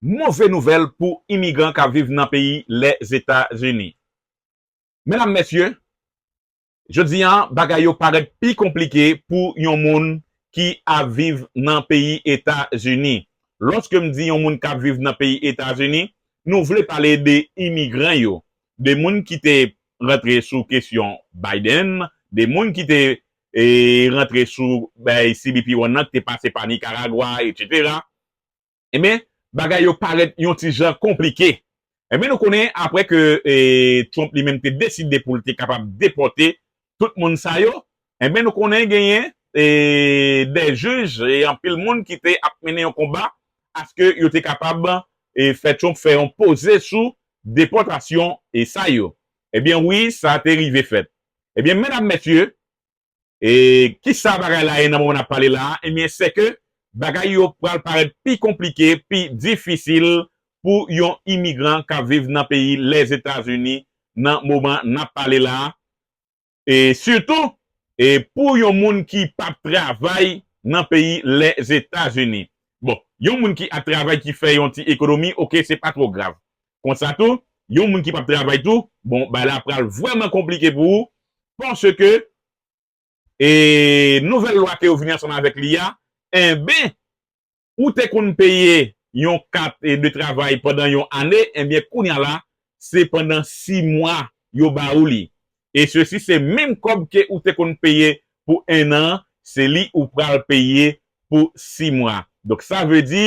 Move nouvèl pou imigran k ap viv nan peyi Lèzetazini. Medam, mesye, jodi a bagay yo parèt pi konplike pou yon moun ki ap viv nan peyi Etazini. Lòske m di yon moun k ap viv nan peyi Etazini, nou vle pale de imigran yo, de moun ki te rantre sou kesyon Biden, de moun ki te rantre sou cbp One nan, ki te pase pa Nikaragwa, etc. Enben, bagay yo parèt yon ti jan konplike. Enben nou konnen apre ke Trump li menm te deside pou l te kapab depòte tout moun sa yo, enben nou konnen genyen dè jij e anpil moun ki te ap mennen yon konba aske yo te kapab fè Trump fè yon poze sou depòtasyon sa yo. Enben wi, sa te rive fèt. Enben medam mesye, E kisa bagay la ye nan moman n ap pale la a? Ebyen, sèke bagay yo pral parèt pi konplike, pi difisil pou yon imigran k ap viv nan peyi Lèzetazini nan moman n ap pale la a. E sitou, e pou yon moun ki p ap travay nan peyi Lèzetazini. Bon, yon moun ki ap travay ki fè yon ti ekonomi, oke, se pa twò grav. Konsa tou, yon moun ki pap travay tou, bon bagay la pral vrèman konplike pou ou paske e nouvèl lwa ke yo vini ansanm avèk li a, enben ou te konn peye yon kat de travay pandan yon ane, enben kounya la se pandan 6 mwa yo ba ou li. e sesi se menm kòb ke ou te konn peye pou 1 an se li ou pral peye pou 6 mwa donk sa vle di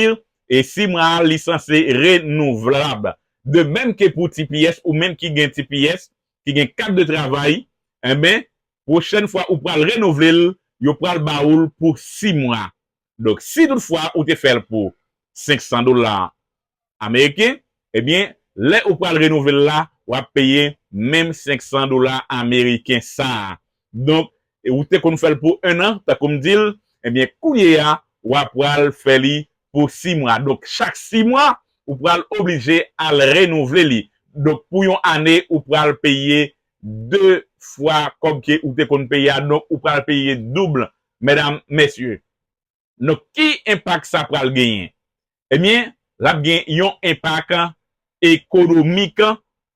e 6 mwa a li sanse renouvlab de menm ke pou tps ou menm ki gen tps ki gen kat de travay enben pwochèn fwa ou pral renouvle l yo pral ba ou l pou 6 mwa Donk si tout fwa ou te fèl pou 500 dola ameriken ebyen lè ou pral renouvel la wap peye menm 500 dola ameriken sa donk ou te konn fèl pou 1 an tankoum dil ebyen kounyeya wa pral fè li pou 6 mwa donk chak 6 mwa ou pral oblije al renouvle li donk pou yon ane ou pral peye 2 fwa kòb ke ou te konn peye a donk ou pral peye double Medam, Mesye, nou ki enpak sa pral genyen? Ebyen, lap gen yon enpak ekonomik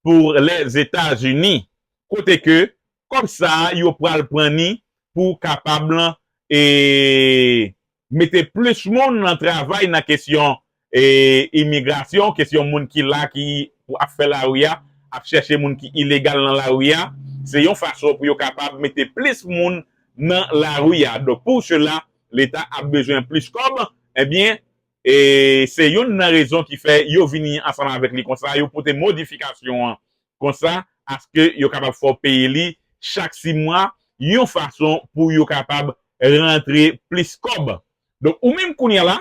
pou Lèzetazini, kote ke kòb sa yo pral pran ni pou kapab mete plis moun nan travay nan kesyon E imigrasyon, kesyon moun ki la ki pou ap fè lari a, ap chèche moun ki ilegal nan lari a, se yon fason pou yo kapab mete plis moun nan lari a. Donk pou sela, leta ap bezwen plis kòb, ebyen e se youn nan rezon ki fè yo vini ansanm avèk li konsa, yo pote modifikasyon an konsa aske yo kapab fè w peye li chak si mwa, yon fason pou yo kapab rantre plis kòb. Donk ou menm kounya la,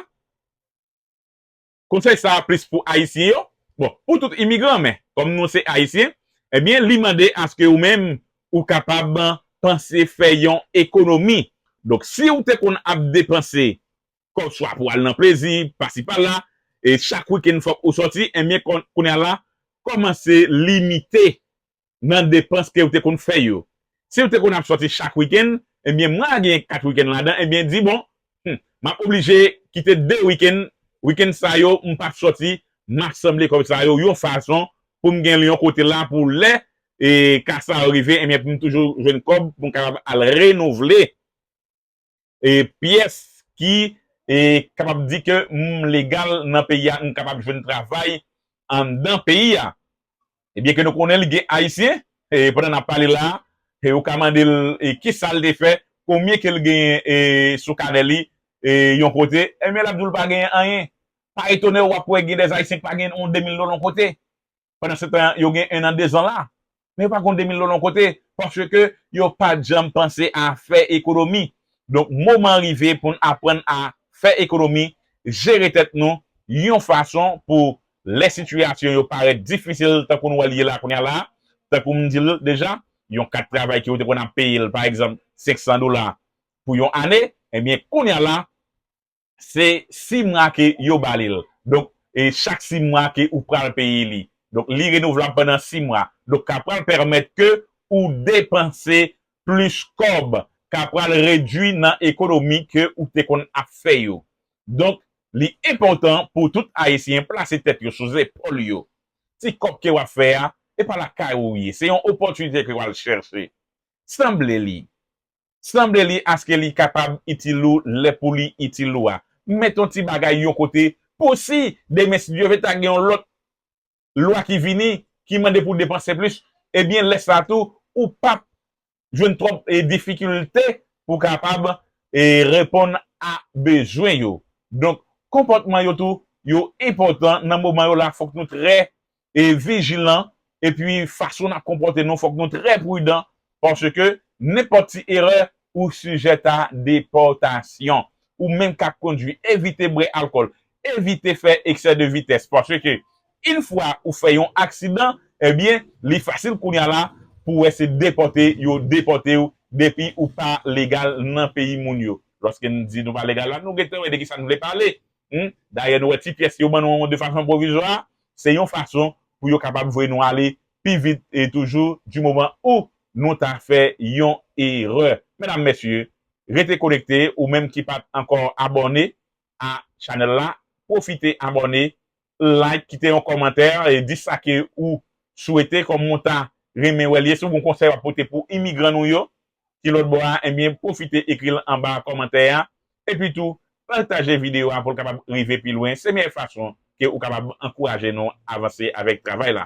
Konsèy sa a plis pou Ayisyen yo, bon, pou tout imigran men, kòm nou se Ayisyen, ebyen li mande aske ou menm ou kapab panse fè yon ekonomi. Donk si ou te konn ap depanse kòb swa pou al nan plezi, pasi pala, e chak wikenn fòk ou sòti, ebyen kounye a la, kòmanse limite nan depans kew te konn fè yo. Siw te konn ap sòti chak wikenn, ebyen mwa a gen 4 wikenn ladan ebyen di bon humm map oblije kite 2 wikenn, wikenn sa yo m pap sòti map sanble kòb sa yo yon fason poum genl yon kote la pou lè ka sa yo rive ebyen poum toujou jwenn kòb poum kapab al renouvle. pyès ki kapab di ke m legal nan peyi a, m kapab jwenn travay anndan peyi a. Ebyen ke nou konnen li gen Ayisyen, pandan n ap pale la a, ou ka mande l kisa l te fè, konbyen ke l genyen sou kanè li yon kote, ebyen l ap di w l pa genyen anyen. Pa etone w, w ap wè gen dèzayisyen ki pa genyen yon 2000 dola yon kote. pandan se tan yo gen 1 an 2 zan la, men yo pa konn 2000 dola yon kote, paske yo pat janm panse a fè ekonomi, donk moman an rive poun aprann a fè ekonomi, jere tèt nou yon fason pou lè sitiyasyon yo parèt difisil tankou nou wè l ye la kounya la, tankou m di l deja, yon kat travay ke ou te konn ap peye l pa egzanp 500 dola pou yon ane, ebyen kounya la, Se 6 mwa ke yo ba li l. Donk, e chak 6 mwa ke ou pral peye li. Donk, li renouvlab pandan 6 mwa. Donk, ka pral pèmèt ke ou depanse plis kòb. Ka pral redui nan ekonomi ke ou te konn ap fè yo. Donk, li enpòtan pou tout Ayisyen plase tèt yo sou zepòl yo. Ti kòb ke wap fè a, e pa lakay ou ye. Se yon opòtinite ke wal chèche. Sanble li. Sanble li aske li kapab itil ou lè pou li itil ou a. Met yon ti bagay yon kote pou si demen si Dye ve ta gen yon lòt lwa ki vini ki mande pou depanse plis ebyen lè sa tou ou pap jwenn twòp difikilte pou kapab reponn a bezwen yo. Donk konpòtman yo tou yo enpòtan nan moman yo la fòk nou trè vijilan epi fason nap konpòte nou fòk nou trè pridan paske nenpòt ti erè ou sijèt a depòtasyon ou menm kap kondwi evite bwè alkòl evite fè eksè de vitès paske yn fwa ou fè yon aksidan ebyen li fasil kounya la pou wè se depòte yo depòtew depi ou pa legal nan peyi moun yo lòske nou di nou pa legal la nou gentan wè de kisa nou vle pale dayè nou wè ti pyès yo ban nou an de fason pwovizwa Se yon fason pou yo kapab voye nou ale pi vit toujou di moman ou nou ta fè yon erè. Medam mesye, rete konekte ou menm ki pat ankò abòne a chanèl la, pwofite abòne, like, kite yon kòmantè, di sa ke ou swete kòm ou ta renmen wè l ye, si w gen yon konsèy wap pote pou imigran nou yo, ki lòt bò a ebyen pwofite ekri l anba kòmantè a epi tou pataje videyo a pou l kapab rive pi lwen se meyè fason ke ou kapab ankouraje nou avanse avèk travay la.